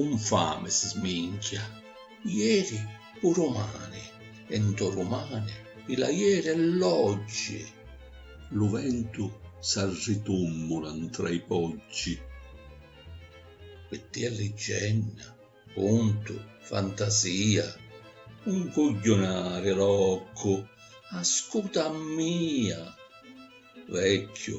Un fami si sminchia ieri pu rumani e nto rumani i la ieri e l'oggi. Lu ventu s'arritummula ntra i poggi. Tti è liggenna, cuntu, fantasia, un cugghiunari loccu, ascuta a mia. Vecchiu,